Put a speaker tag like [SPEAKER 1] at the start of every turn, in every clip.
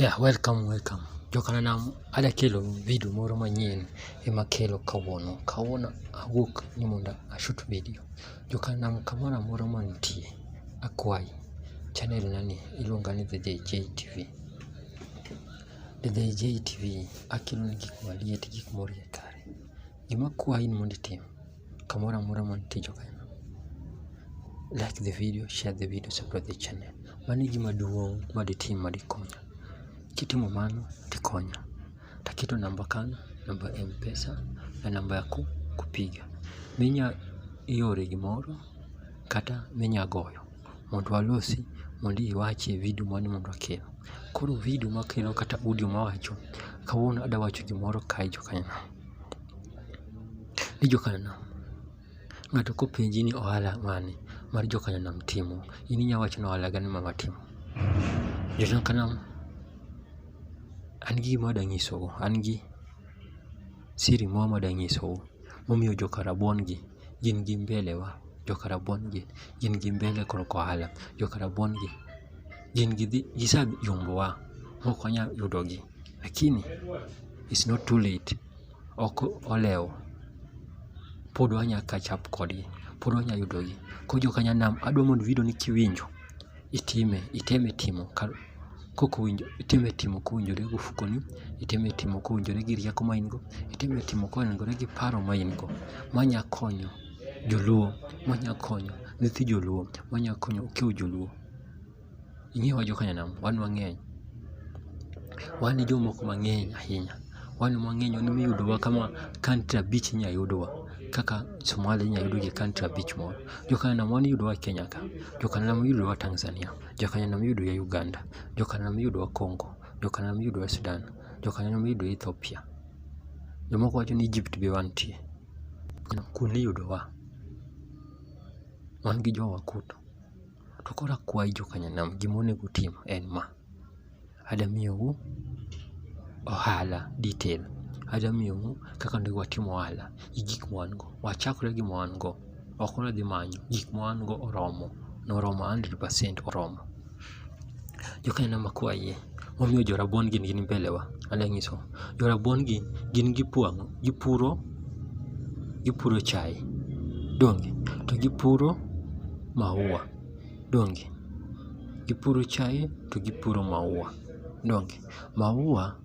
[SPEAKER 1] Yeah, welcome, welcome. Jokananam ada kelo video moro manyien ema kelo kawuono. Kawuono awuok ni mondo ashut video. Jokananam kamoro amoro mantie, akwayi channel nani iluonga ni The JJ TV. The JJ TV akelo ni gik maliet, gik morie kare. Gima akwayi ni mondo itim kamoro amora mantie joka ina like the video share the video support the channel mano e gima duong' ma ditim ma dikonya kitimo mano tikonya taketo namba kanyo namba ya mpesa na namba ya ku- kupiga minya iore gimoro kata minya goyo mondo walosi mondo iwachi e video mane mondo akelo koro video makelo kata audio mawacho kawuono adawacho gimoro kae joka ina ni jokanyo nam. Ng'ato kopenji ni ohala mane mar jokanyo nam timo, in inya wacho ni ohala gani ma watimo. Jokanyo nam, an gi gima danyisou, an gi siri moro ma danyisou momiyo joka rabuon gi gin gi mbele wa. Joka rabuon gi gin gi mbele korka ohala, joka rabuon gi gin gidhi gise yombo wa mok wanya yudo gi. Lakini it's not too late. ok olewo, pod wanya catch up kodgi, pod wanya yudogi. Koro jo Kanyanam, adwa mondo video ni kiwinjo, itime, iteme timo ka kok owinjo, iteme timo kowinjore gi ofukoni, iteme timo kowinjore gi rieko ma in go, iteme timo kowinjore gi paro ma in go. Manya konyo joluo, manya konyo nyithi joluo, manya konyo okiw joluo. Ing'eyo wa jokanyanam, wan wang'eny. Wan e jomoko mang'eny ahinya. Wan e wang'eny wan emiyudowa kama country abich inya yudwa. Kaka Somalia inya yudwa gi country abich moro. Jokanyanam wan iyudowa e Kenya ka, jokanyanam iyudowa Tanzania, jokanyanam iyudowa Uganda, jokanyanam iyudowa Congo, jokanyanam iyudowa Sudan, jokanyanam iyudowa Ethiopia. Jomoko wacho ni Egypt be wantie. Kuno iyudowa. Wan gi jowa kuno. To koro akwayi jokanyanam, gima onego utim en ma, adwa miyou ohala detail, adwa miyou kaka onego watim ohala gi gik ma wan go. Wachakre gi ma wan go, ok ni wadhi manyo, gik ma wan go oromo, noromo hundred percent oromo. Jokanyanam akwayi Momiyo jorabuon gin gin mbelewa. Anya nyiso. Jorabuon gi gin gipwang'o, gipuro, gipuro chae. Donge? To gipuro maua. Donge? Gipuro chae to gipuro maua. Donge? Maua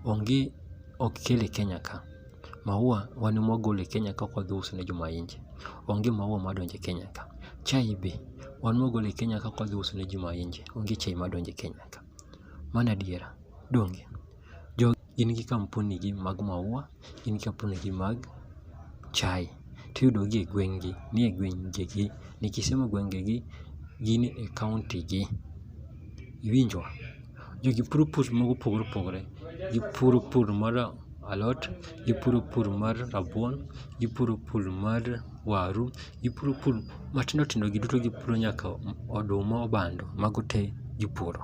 [SPEAKER 1] onge ok kel e Kenya ka. Maua wan ema wagolo e Kenya ka wadhi uso ne joma nje. Onge maua madonjo e Kenya ka. Chai be wan ema wagolo e Kenya ka wadhi uso ne joma nje. Onge chai madonjo e Kenya ka. Mano adiera. Donge? Jogi gin gi kampuni gi mag maua, gin gi kampuni gi mag chai. To iyudo gi e gweng' gi, nie gweng' gi gi. Nikech somo gwenge gi, gin e kaunti gi. Iwinjo? Jogi puro pur mago opogore opogore. Gipuro pur mar alot, gipuro pur mar rabuon, gipuro pur mar waru, gipuro pur matindo tindo gi duto gipuro nyaka oduma obando mago te gipuro.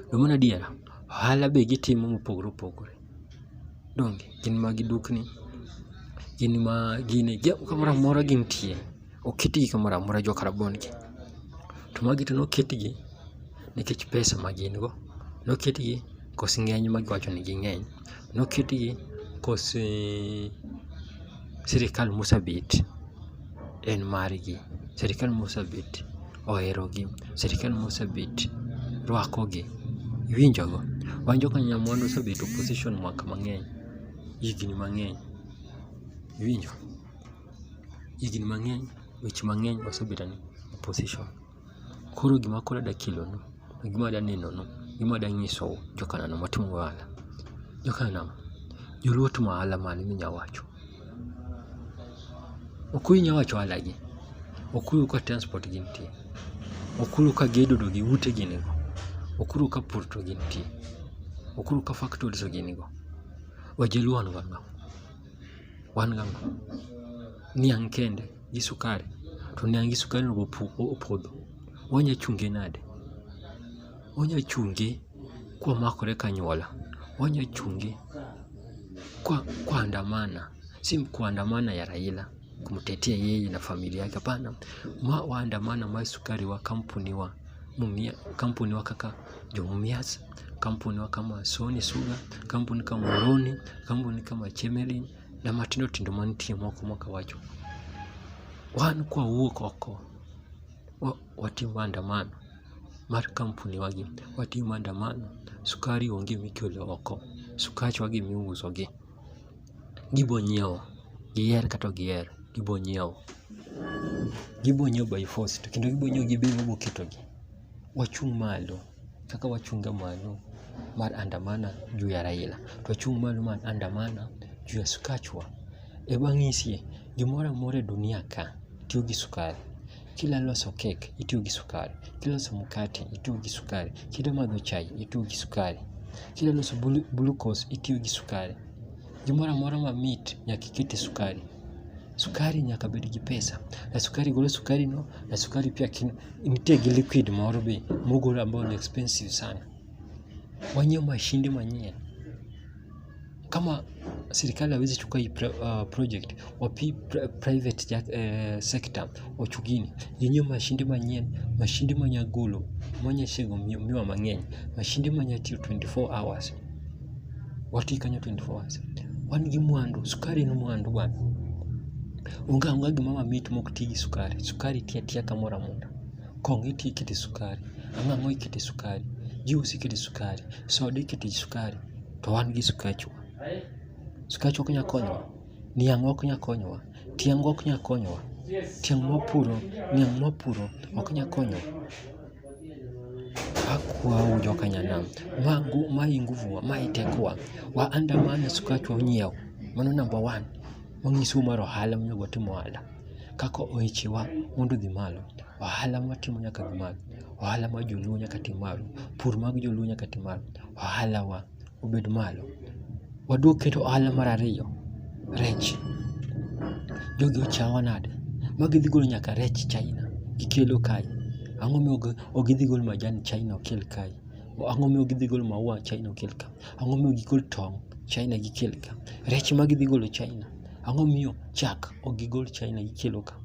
[SPEAKER 1] To mano adiera, ohala be gitimo mopogore opogore. Donge gin ma gidukni, gin ma gine, kamoro amora gintie. oketgi kamoro amora jo Karabon gi. To magi to noketgi nikech pesa ma gin go, noketgi kos ng'eny ma giwacho ni ging'eny, noketgi kos eh, sirikal mosebet en margi, sirikal mosebet oherogi, sirikal mosebet rwakogi, iwinjogo. Wan joka Nyamwandu osebedo opposition mwaka mang'eny, higni mang'eny, iwinjo. Higni mang'eny weche mang'eny wasebedo ni opposition. Koro gima koro adwa kelonu, gima adwa nenonu, gima adwa nyisou jo Kanana matimo ohala. Jo Kanana, joluo timo ohala mane minya wacho? Okuyu nya wacho ohala gi. Okuyu ka transport gi nitie. Okuyu ka gedo to gi ute gi nigo. Okuyu ka pur to gi nitie. Okuyu ka factories gi nigo. Wajaluo wan go ang'o? wan gang'o niang' kende gi sukari to niang' gi sukari onego opodho wanya chunge nade? Wanya chunge kwa makore kanyuola, wanya chunge kwa andamana, si kuandamana ya Raila. kumtetea yeye na familia yake. Hapana, waandamana mai sukari wa kampuni wa mumia, kampuni wa kaka Jomumias, kampuni wa kama Sony Sugar, kampuni kama Moroni, kampuni kama Chemelin na matindo tindo mantie moko mwaka wacho wan kwa wuok oko watim maandamano mar kampuni wagi watim maandamano sukari onge mikelo oko sukach wagi miuso gi Gibo nyiewo, giher kata ok giher, gibo nyiewo. Gibo nyiewo by force to kendo gibo nyiewo gi bei ma iboketogi. Wachung' malo kaka wachunga malo mar andamana juu ya Raila, twachung' malo mar andamana juu ya Sukachwa. E wang'isie, gimoro amora e dunia ka tiyo gi sukari. Kila loso kek itiyo gi sukari, kiloso mkate itiyo gi sukari, kidwa madho chai itiyo gi sukari, kidwa loso glucose itiyo gi sukari. Gimoro amora mamit nyaka ikete sukari. Sukari nyaka bed gi pesa. Na sukari golo sukari no, na sukari pia nitie gi liquid moro be mogol ambayo ni expensive sana. Wanyiew mashinde manyien. Kama serikali hawezi chukua hii uh, project wapi private uh, sector ochugini yenyewe mashinde manyien mashinde manyagolo manyashego miwa mang'eny mashinde manyatiyo 24 hours wati kanyo 24 hours wan gi mwandu sukari en mwandu bwana onge onge gima mamit mok ti gi sukari sukari ti atiya kamoro amora kong'o iti ikete sukari ang'ang'o ikete sukari juus ikete sukari soda ikete sukari to wan gi sukachwa sukachwa ok nya konyowa niang' ok nya konyowa tiang' ok nya konyowa tiang' mwapuro niang' mwapuro ok nya konyowa Hakuwau jokanyana wangu mai nguvu mai tekwa wa andamana sukachwa unyiew mano namba one manyiso mar ohala monego watim ohala kaka ohechewa mondo odhi malo ohala mwatimo nyaka dhi malo ohala mar joluo nyaka tim malo pur mag joluo nyaka tim malo ohala wa obed malo. Waduog keto ohala mar ariyo, rech. Jogi ochawa nade ma gidhi golo nyaka rech China gikelo kae. Ang'o ma ok gidhi golo majan China okel kae? Ang'o ma ok gidhi golo maua China okel kae? Ang'o ma ok gigol tong' China gikel kae? Rech ma gidhi golo China, ang'o momiyo chak ok gigol China gikelo ka?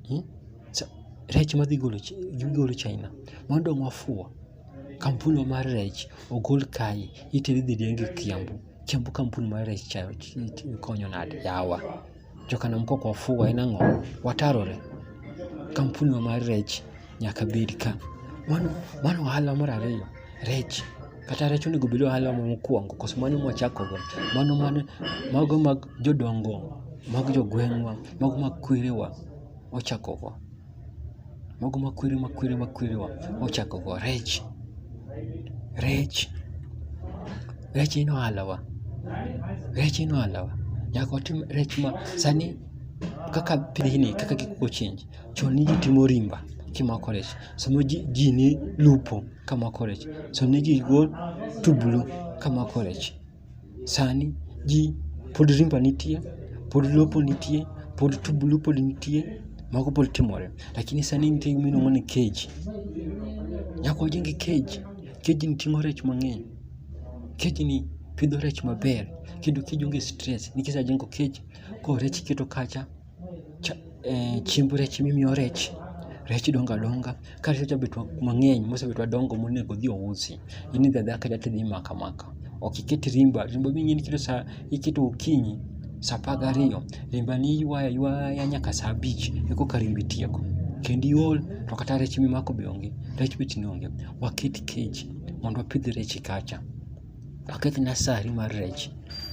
[SPEAKER 1] Hmm? Rech ma gigolo China, mano dong' wafuwo. Kampuni mar rech ogol kae itere idhi riemb e Kiambu. Kiambu kampuni mar rech cha konyo nade yawa. Joka nam kok wafuwo en ang'o? Watarore. Kampuni wa mar rech nyaka bed ka. Mano, mano ohala mar ariyo. Rech, kata rech onego obed ohala mokwongo koso mano mwachako go. Mano mane, mago mag jodongo, mag jogweng'wa, mago mag kwerewa, wachako go. Mago makwiri makwiri makwiri wa ochako go rech. Rech. Rech ino alawa. Rech ino alawa. Nyaka otim rech ma sani kaka pidhini kaka gik change chon ne ji timo rimba kimako rech sama ji, ji ne lupo kamako rech so ne ji go tublu kamako rech Sani ji pod rimba nitie, pod lopo nitie, pod tubulu pod nitie, mago pod timore. Lakini sani nitie gima iluongo ni cage. Nyaka wajenge cage. Cage ni ting'o rech mang'eny. Cage ni pidho rech maber. Kendo cage onge stress. Nikech ajengo cage, koro rech iketo kacha, eh, chiemb rech mimiyo rech rech donga donga ka rech osebet mang'eny mosebet madongo monego odhi ousi in idhi adhiya kacha tidhi imaka maka ok iket rimba rimba ming'e ni sa iketo okinyi sa apar gariyo rimba ni iywayo aywaya nyaka sa abich ekoka rimba itieko kendo iol to kata rech mimako be onge rech bechni onge waket cage mondo wapidh rech kacha Aket na sari mar rech.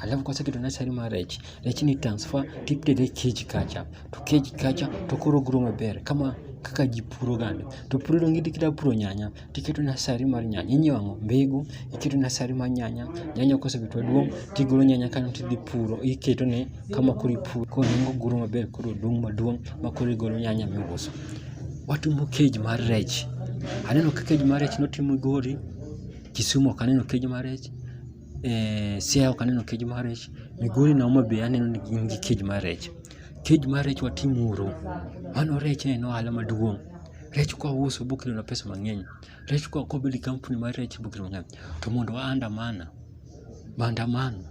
[SPEAKER 1] Alafu kwa sababu tuna sari mar rech, rech ni transfer tiptede cage kacha. To cage kacha to koro grow maber kama kaka ji puro gande. To puro donge kidwa puro nyanya, tiketo nasari mar nyanya. Inyiewo ang'o? Mbegu, iketo nasari mar nyanya. Nyanya kosebedo maduong', tigolo nyanya kanyo tidhi puro, iketo ne kama koro ipuro. Koro nyanya oguro maber, koro odong' maduong' ma koro igolo nyanya miuso. Watimo cage mar rech. Aneno ka cage mar rech notimo gori. Kisumu ok aneno kej mar rech, eh, Siaya ok aneno kej mar rech, Migori na Homa Bay aneno ni gin gi kej mar rech. Kej mar rech watimuru, mano rech en ohala maduong'. Rech kwa uso bokelona pesa mang'eny, rech kwa kobedo gi kampuni mar rech bokelona mang'eny. To mondo wa andamana. maandamano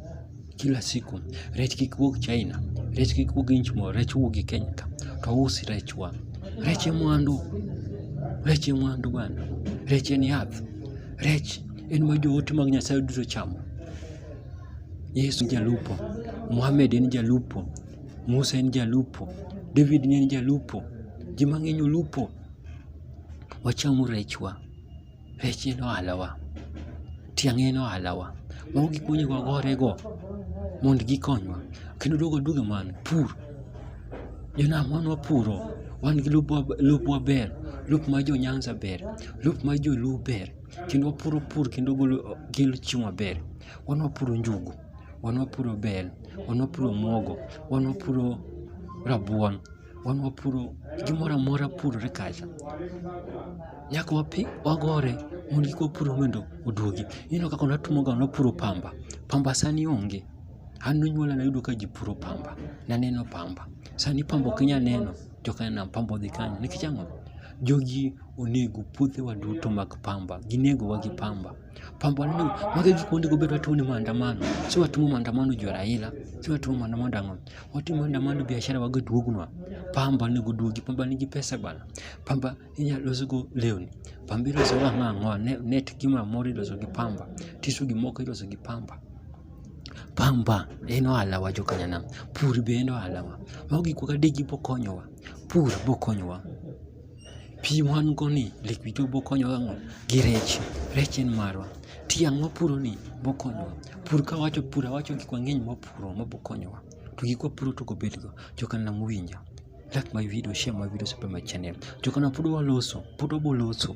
[SPEAKER 1] kila siku, rech kik wuog China, rech kik wuog inch moro, rech wuog e Kenya ka to usi rech wa. Rech e mwandu, rech e mwandu bana, rech en yath, rech en ma joote mag Nyasaye duto chamo. Yesu en jalupo, Muhammad en jalupo, Musa en jalupo, David ne en jalupo, ji mang'eny olupo. Wacham rechwa. Rech en ohalawa, tiang' en ohalawa, mago gik monego wagorego mondo gikonywa. Kendo duogo duogo mano, pur, jonam wan wapuro, wan gi lopwa ber, lop mar jo Nyanza ber, lop mar joluo ber, kendo wapuro pur kendo kelo chiemo maber. Wan wapuro njugu, wan wapuro bel, wan wapuro omuogo, wan wapuro rabuon. wan wapuro gimoro amora purore kacha nyaka wapi wagore mondo kik wapuro mondo oduogi ineno kaka natimoga napuro pamba pamba sani onge an nonyuola nayudo ka ji puro pamba naneno pamba sani pamba ok inyal neno joka nam pamba odhi kanyo nikech ang'o jogi onego puothewa duto mag pamba ginegowa gi pamba pamba neno magi gik monego bed watimo ne maandamano si watimo maandamano jo Raila si watimo maandamano dang'o watimo nda mondo biashara wago duognwa. Pamba onego duogi, pamba nigi pesa bana. Pamba inyalo los go lewni, pamba iloso go ang'o ang'o, net gimoro amora iloso gi pamba, tisu gi moko iloso gi pamba. Pamba en ohalawa jo Kanyanam, pur be en ohalawa. Mago gik wadegi bokonyowa, pur bokonyowa. Pi wan go ni lake Victoria be okonyowa ang'o? Gi rech. Rech en marwa. Tiang' wapuro ni be okonyowa. Pur ka awacho pur awacho gik mang'eny ma wapuro ma be okonyowa. To gik ma wapuro to ok obed go. Jo kanam muwinja. Like my video, share my video, subscribe my channel. Jo kanam pod waloso. Pod wabo loso.